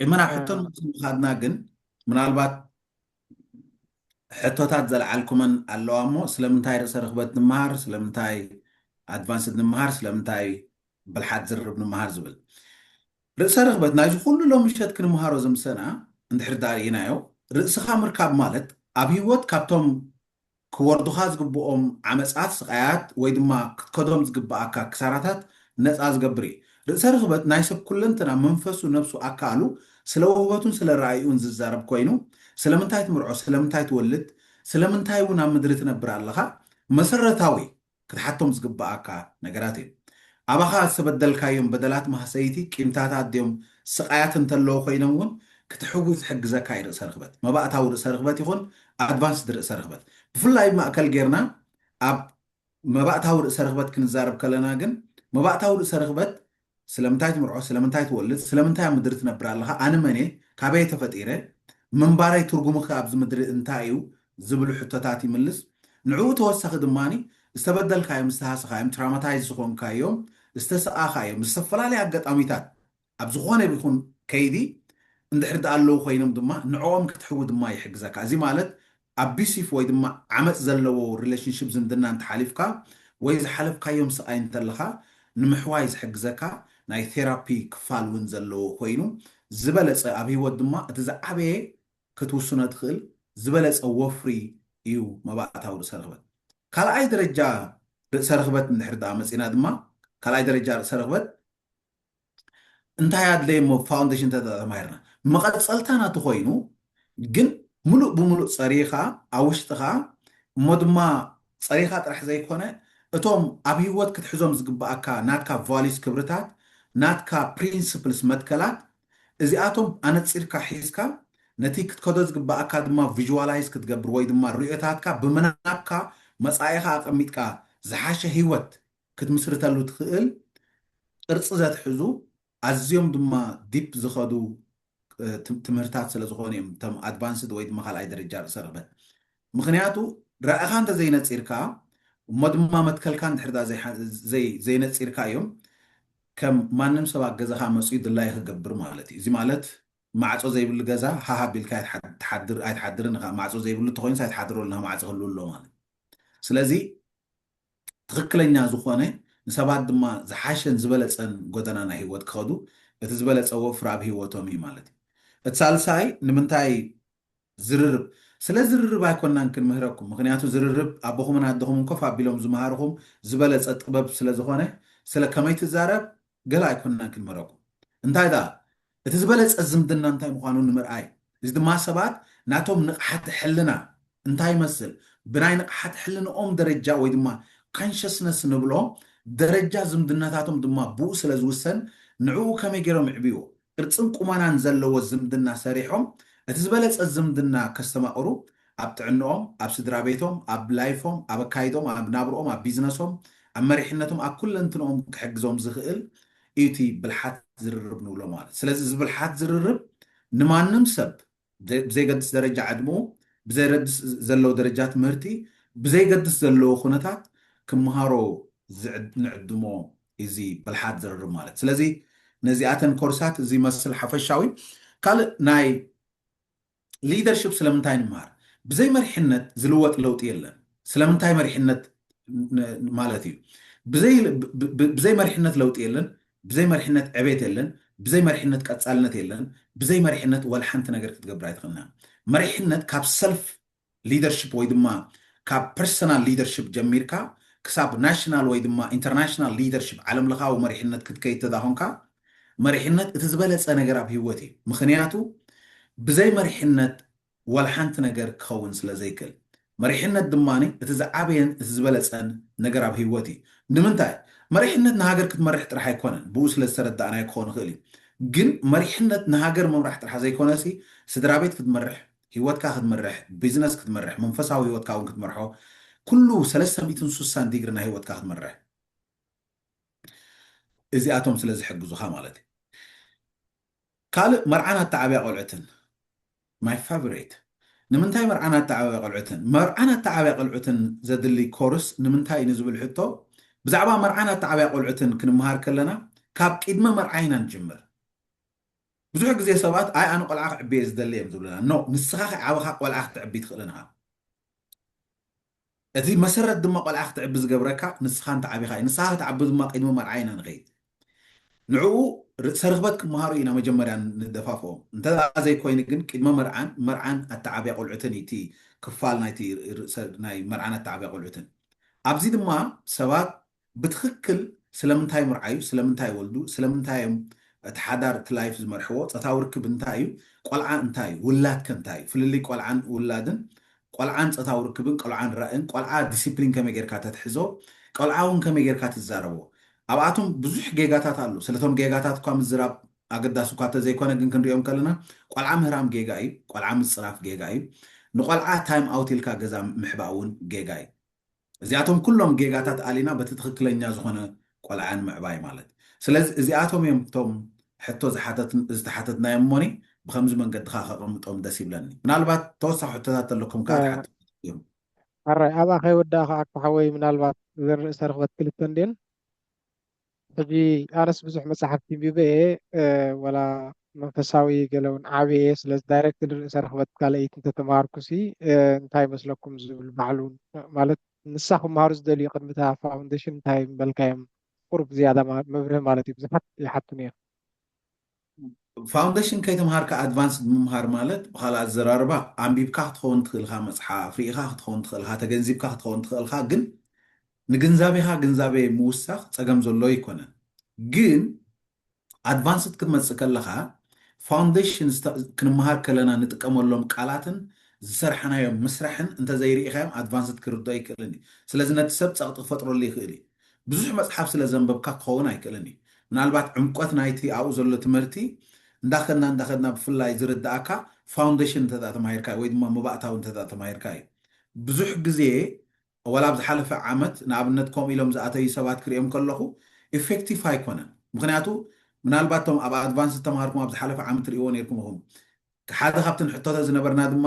እመን ኣብ ሕቶ ንምኻድና ግን ምናልባት ሕቶታት ዘልዓልኩመን ኣለዋ እሞ ስለምንታይ ርእሰ ርኽበት ንምሃር ስለምንታይ ኣድቫንስድ ንምሃር ስለምንታይ ብልሓት ዝርርብ ንምሃር ዝብል ርእሰ ርኽበት ናይዚ ኩሉ ሎም ምሸት ክንምሃሮ ዝምሰና እንድሕር ዳርእናዮ ርእስኻ ምርካብ ማለት ኣብ ህይወት ካብቶም ክወርዱኻ ዝግብኦም ዓመጻት፣ ስቓያት፣ ወይ ድማ ክትከዶም ዝግብኣካ ክሳራታት ነጻ ዝገብር እዩ። ርእሰ ርኽበት ናይ ሰብ ኩለንትና መንፈሱ ነብሱ ኣካኣሉ ስለ ወህበቱን ስለ ራእይኡን ዝዛረብ ኮይኑ ስለምንታይ ትምርዖ ስለምንታይ ትወልድ ስለምንታይውን ኣብ ምድሪ ትነብር ኣለኻ መሰረታዊ ክትሓቶም ዝግብኣካ ነገራት እዩ። ኣባኻ ዝተበደልካዮም በደላት ማህሰይቲ ቂምታታት ድዮም ስቓያት እንተለዉ ኮይኖም እውን ክትሕዊ ዝሕግዘካ እዩ ርእሰ ርኽበት፣ መባእታዊ ርእሰ ርኽበት ይኹን ኣድቫንስድ ርእሰ ርኽበት። ብፍላይ ማእከል ጌርና ኣብ መባእታዊ ርእሰ ርኽበት ክንዛረብ ከለና ግን መባእታዊ ርእሰ ርኽበት ስለምንታይ ትምርዖ? ስለምንታይ ትወልድ? ስለምንታይ ኣብ ምድሪ ትነብር ኣለኻ? ኣነ መን እየ? ካበይ እየ ተፈጢረ? ምንባረይ ትርጉሙ'ኸ ኣብዚ ምድሪ እንታይ እዩ? ዝብሉ ሕቶታት ይምልስ። ንዕኡ ተወሳኺ ድማ ዝተበደልካዮም፣ ዝተሃሰኻዮም፣ ትራማታይዝ ዝኾንካዮም፣ ዝተሰቓኻዮም፣ ብዝተፈላለየ ኣጋጣሚታት ኣብ ዝኾነ ይኹን ከይዲ እንድሕር ደኣ ኣለዉ ኮይኖም ድማ ንዕኦም ክትሕዊ ድማ ይሕግዘካ። እዚ ማለት ኣቢሲፍ ወይ ድማ ዓመጽ ዘለዎ ሪለሽንሽፕ ዝምድና እንተሓሊፍካ ወይ ዝሓለፍካዮም ስቓይ እንተለኻ ንምሕዋይ ዝሕግዘካ ናይ ቴራፒ ክፋል ውን ዘለዎ ኮይኑ ዝበለጸ ኣብ ሂወት ድማ እቲ ዝዓበየ ክትውስኖ ትኽእል ዝበለጸ ወፍሪ እዩ መባእታዊ ርእሰ ርኽበት ካልኣይ ደረጃ ርእሰ ርኽበት እንድሕሪ ድኣ መጺና ድማ ካልኣይ ደረጃ ርእሰ ርኽበት እንታይ ኣድለየ እሞ ፋውንደሽን ተማሂርና መቐፀልታ ናቱ ኮይኑ ግን ሙሉእ ብሙሉእ ፀሪኻ ኣብ ውሽጥኻ እሞ ድማ ፀሪኻ ጥራሕ ዘይኮነ እቶም ኣብ ህይወት ክትሕዞም ዝግበኣካ ናትካ ቫሊዩስ ክብርታት ናትካ ፕሪንስፕልስ መትከላት እዚኣቶም ኣነፂርካ ሒዝካ ነቲ ክትከዶ ዝግበኣካ ድማ ቪዥዋላይዝ ክትገብር ወይ ድማ ርእዮታትካ ብምናብካ መፃኢኻ ኣቐሚጥካ ዝሓሸ ህይወት ክትምስርተሉ ትኽእል ቅርጺ ዘትሕዙ ኣዝዮም ድማ ዲፕ ዝኸዱ ትምህርታት ስለ ዝኾኑ እዮም እቶም ኣድቫንስድ ወይ ድማ ካልኣይ ደረጃ ርእሰ ርግበት ምኽንያቱ ራእኻ እንተዘይነጺርካ እሞ ድማ መትከልካ እንድሕር ድኣ ዘይነጺርካ እዮም ከም ማንም ሰብ ኣብ ገዛኻ መፅኡ ድላዩ ክገብር ማለት እዩ እዚ ማለት ማዕፆ ዘይብሉ ገዛ ሃሃ ቢልካ ኣይትሓድር ኣይትሓድርን ኢኻ ማዕፆ ዘይብሉ ተኾይንስ ኣይትሓድረሉን ማዕፆ ክህልው ኣሎ ማለት ስለዚ ትኽክለኛ ዝኾነ ንሰባት ድማ ዝሓሸን ዝበለጸን ጎደና ናይ ህይወት ክኸዱ እቲ ዝበለጸ ወፍሪ ኣብ ህይወቶም እዩ ማለት እዩ። እቲ ሳልሳይ ንምንታይ ዝርርብ ስለ ዝርርብ ኣይኮናን ክንምህረኩም ምኽንያቱ ዝርርብ ኣቦኹምን ኣደኹምን ኮፍ ኣቢሎም ዝመሃርኹም ዝበለጸ ጥበብ ስለ ዝኾነ ስለ ከመይ ትዛረብ ገለ ኣይኮንናን ክንምህረኩም። እንታይ ደኣ፣ እቲ ዝበለጸ ዝምድና እንታይ ምዃኑ ንምርኣይ፣ እዚ ድማ ሰባት ናቶም ንቕሓተ ሕልና እንታይ ይመስል፣ ብናይ ንቕሓተ ሕልንኦም ደረጃ ወይ ድማ Consciousness ንብሎ ደረጃ ዝምድናታቶም ድማ ብኡ ስለ ዝውሰን ንዕኡ ከመይ ገይሮም የዕብይዎ፣ ቅርጽን ቁመናን ዘለዎ ዝምድና ሰሪሖም እቲ ዝበለጸ ዝምድና ከስተማቕሩ ኣብ ጥዕንኦም ኣብ ስድራቤቶም ኣብ ላይፎም ኣብ ኣካይድኦም ኣብ ናብርኦም ኣብ ቢዝነሶም ኣብ መሪሕነቶም ኣብ ኩለንትንኦም ክሕግዞም ዝኽእል እዩ እቲ ብልሓት ዝርርብ ንብሎ ማለት ስለዚ እዚ ብልሓት ዝርርብ ንማንም ሰብ ብዘይገድስ ደረጃ ዕድመኡ፣ ብዘይረድስ ዘለዎ ደረጃ ትምህርቲ፣ ብዘይገድስ ዘለዎ ኩነታት ክመሃሮ ንዕድሞ እዚ ብልሓት ዝርርብ ማለት። ስለዚ ነዚኣተን ኮርሳት እዚ መስል ሓፈሻዊ ካልእ ናይ ሊደርሽፕ ስለምንታይ ንመሃር? ብዘይ መሪሕነት ዝልወጥ ለውጢ የለን። ስለምንታይ መሪሕነት ማለት እዩ። ብዘይ መሪሕነት ለውጢ የለን። ብዘይ መሪሕነት ዕቤት የለን፣ ብዘይ መሪሕነት ቀጻልነት የለን፣ ብዘይ መሪሕነት ወልሓንቲ ነገር ክትገብር ኣይትኽእልን ኢኻ። መሪሕነት ካብ ሰልፍ ሊደርሽፕ ወይ ድማ ካብ ፐርሰናል ሊደርሽፕ ጀሚርካ ክሳብ ናሽናል ወይ ድማ ኢንተርናሽናል ሊደርሽፕ ዓለምለኻዊ መሪሕነት ክትከይድ ተዳኾንካ መሪሕነት እቲ ዝበለጸ ነገር ኣብ ሂወት እዩ ምኽንያቱ ብዘይ መሪሕነት ዋላ ሓንቲ ነገር ክኸውን ስለ ዘይክእል። መሪሕነት ድማ እቲ ዝዓበየን እቲ ዝበለጸን ነገር ኣብ ህይወት እዩ። ንምንታይ? መሪሕነት ንሃገር ክትመርሕ ጥራሕ ኣይኮነን፣ ብኡ ስለ ዝተረዳእናዮ ክኸውን ይኽእል እዩ። ግን መሪሕነት ንሃገር ምምራሕ ጥራሕ ዘይኮነሲ ስድራቤት ክትመርሕ፣ ህይወትካ ክትምርሕ፣ ቢዝነስ ክትመርሕ፣ መንፈሳዊ ህይወትካ እውን ክትመርሖ፣ ኩሉ ሰለስተ ሚእትን ሱሳን ዲግሪ ናይ ህይወትካ ክትመርሕ እዚኣቶም ስለ ዝሕግዙኻ ማለት እዩ። ካልእ መርዓን ኣተዓብያ ቆልዑትን my favorite ንምንታይ መርዓን ኣተዓብያ ቆልዑትን መርዓን ኣተዓብያ ቆልዑትን ዘድሊ ኮርስ ንምንታይ ንዝብል ሕቶ ብዛዕባ መርዓን ኣተዓብያ ቆልዑትን ክንመሃር ከለና ካብ ቂድመ መርዓ ኢና ንጅምር ብዙሕ ግዜ ሰባት ኣይ ኣነ ቆልዓ ክዕቢ እየ ዝደሊ እዮም ዝብሉና no ንስኻ ከይዓበኻ ቆልዓ ክተዕቢ ትኽእልን እኻ እቲ መሰረት ድማ ቆልዓ ክትዕቢ ዝገብረካ ንስኻ እንተዓቢኻ እዩ። ንስኻ ክትዓቢ ድማ ቅድሚ መርዓ ኢና ንኸይድ። ንዕኡ ርእሰ ርኽበት ክመሃሩ ኢና መጀመርያ ንደፋፍኦም። እንተድኣ ዘይኮይኑ ግን ቅድመ መርዓን መርዓን ኣተዓብያ ቆልዑትን እዩ እቲ ክፋል ናይቲ ርእሰ ናይ መርዓን ኣተዓብያ ቆልዑትን። ኣብዚ ድማ ሰባት ብትኽክል ስለምንታይ ምርዓዩ፣ ስለምንታይ ወልዱ፣ ስለምንታይ እዮም እቲ ሓዳር እቲ ላይፍ ዝመርሕዎ፣ ጸታዊ ርክብ እንታይ እዩ፣ ቆልዓ እንታይ እዩ፣ ውላድ ከ እንታይ እዩ፣ ፍልልይ ቆልዓን ውላድን፣ ቆልዓን ጸታዊ ርክብን፣ ቆልዓን ራእን፣ ቆልዓ ዲሲፕሊን ከመይ ጌርካ ተትሕዞ፣ ቆልዓ እውን ከመይ ጌርካ ትዛረቦ፣ ኣብኣቶም ብዙሕ ጌጋታት ኣሎ፣ ስለ እቶም ጌጋታት እኳ ምዝራብ ኣገዳሲ እኳ እተዘይኮነ ግን ክንሪኦም ከለና ቆልዓ ምህራም ጌጋ እዩ፣ ቆልዓ ምጽራፍ ጌጋ እዩ፣ ንቆልዓ ታይም ኣውት ኢልካ ገዛ ምሕባእ እውን ጌጋ እዩ። እዚኣቶም ኩሎም ጌጋታት ኣሊና በቲ ትኽክለኛ ዝኾነ ቆልዓ ንምዕባይ ማለት ስለዚ እዚኣቶም እዮም እቶም ሕቶ ዝተሓተትናዮም እሞኒ ብከምዚ መንገዲ ከኣ ከቐምጦም ደስ ይብለኒ ምናልባት ተወሳኺ ሕቶታት ተለኩም ከኣ ትሓቱ እዮም። ሕራይ ኣብኣ ከይወዳእካ ኣኮ ሓወይ ምናልባት እዘን ርእሰ ርኽበት ክልተ እንድየን ሕጂ ኣነስ ብዙሕ መጻሕፍቲ ኣንቢበ እየ ዋላ መንፈሳዊ ገለ ውን ዓብየ እየ ስለዚ ዳይረክት ንርእሰ ርኽበት ካልኣይቲ እንተ ተማሃርኩሲ እንታይ ይመስለኩም ዝብል ባዕሉ ማለት ንሳ ክማሃሩ ዝደልዩ ቅድሚ እታ ፋውንደሽን እንታይ ምበልካዮም ቁሩብ ዝያዳ መብርሂ ማለት እዩ ብዙሓት ይሓቱኒ እዮም። ፋውንደሽን ከይተምሃርካ ኣድቫንስድ ምምሃር ማለት ብኻልእ ኣዘራርባ ኣንቢብካ ክትኸውን ትኽእል ኢኻ መጽሓፍ ርኢኻ ክትኸውን ትኽእል ኢኻ ተገንዚብካ ክትኸውን ትኽእል ኢኻ ግን ንግንዛቤኻ ግንዛቤ ምውሳኽ ጸገም ዘሎ ኣይኮነን ግን ኣድቫንስድ ክትመጽእ ከለኻ ፋውንደሽን ክንመሃር ከለና ንጥቀመሎም ቃላትን ዝሰርሓናዮም ምስራሕን እንተዘይርኢኻዮም ኣድቫንስድ ክርድኦ ኣይክእልን እዩ ስለዚ ነቲ ሰብ ጸቕጢ ክፈጥረሉ ይኽእል እዩ ብዙሕ መጽሓፍ ስለ ዘንበብካ ክኸውን ኣይክእልን እዩ። ምናልባት ዕምቆት ናይቲ ኣብኡ ዘሎ ትምህርቲ እንዳኸድና እንዳኸድና ብፍላይ ዝርድኣካ ፋውንደሽን እንተድኣ ተማሂርካ ወይ ድማ መባእታዊ እንተድኣ ተማሂርካ እዩ። ብዙሕ ግዜ ዋላ ኣብ ዝሓለፈ ዓመት ንኣብነት ከምኡ ኢሎም ዝኣተዩ ሰባት ክርእዮም ከለኹ ኢፌክቲፍ ኣይኮነን። ምኽንያቱ ምናልባት እቶም ኣብ ኣድቫንስ ዝተማሃርኩም ኣብ ዝሓለፈ ዓመት ትርእይዎ ኔርኩም ኢኹም። ሓደ ካብቲ ንሕተቶ ዝነበርና ድማ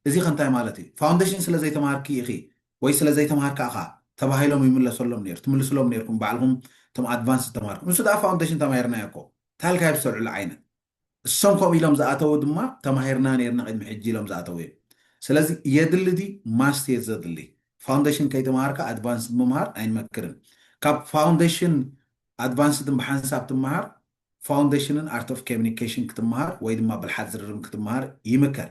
እዚኸ እንታይ ማለት እዩ ፋውንደሽን ስለ ዘይተማሃርኪ ኢኺ ወይ ስለ ዘይተማሃርካ እኻ ተባሂሎም ይምለሰሎም ነይሩ ትምልስሎም ነይርኩም ባዕልኹም እቶም ኣድቫንስ ዝተማሃርኩም ንሱ ደኣ ፋውንደሽን ተማሂርናዮ እኮ ታልካይ ብዝተልዕሉ ዓይነት እሶም ከምኡ ኢሎም ዝኣተዉ ድማ ተማሂርና ነይርና ቅድሚ ሕጂ ኢሎም ዝኣተዉ እዮም ስለዚ የድሊ ድዩ ማስት እየ ዘድሊ ፋውንደሽን ከይተማሃርካ ኣድቫንስድ ምምሃር ኣይንመክርን ካብ ፋውንደሽን ኣድቫንስድን ብሓንሳብ ትምሃር ፋውንደሽንን ኣርት ኦፍ ኮሚኒኬሽን ክትምሃር ወይ ድማ ብልሓት ዝርርብን ክትምሃር ይምከር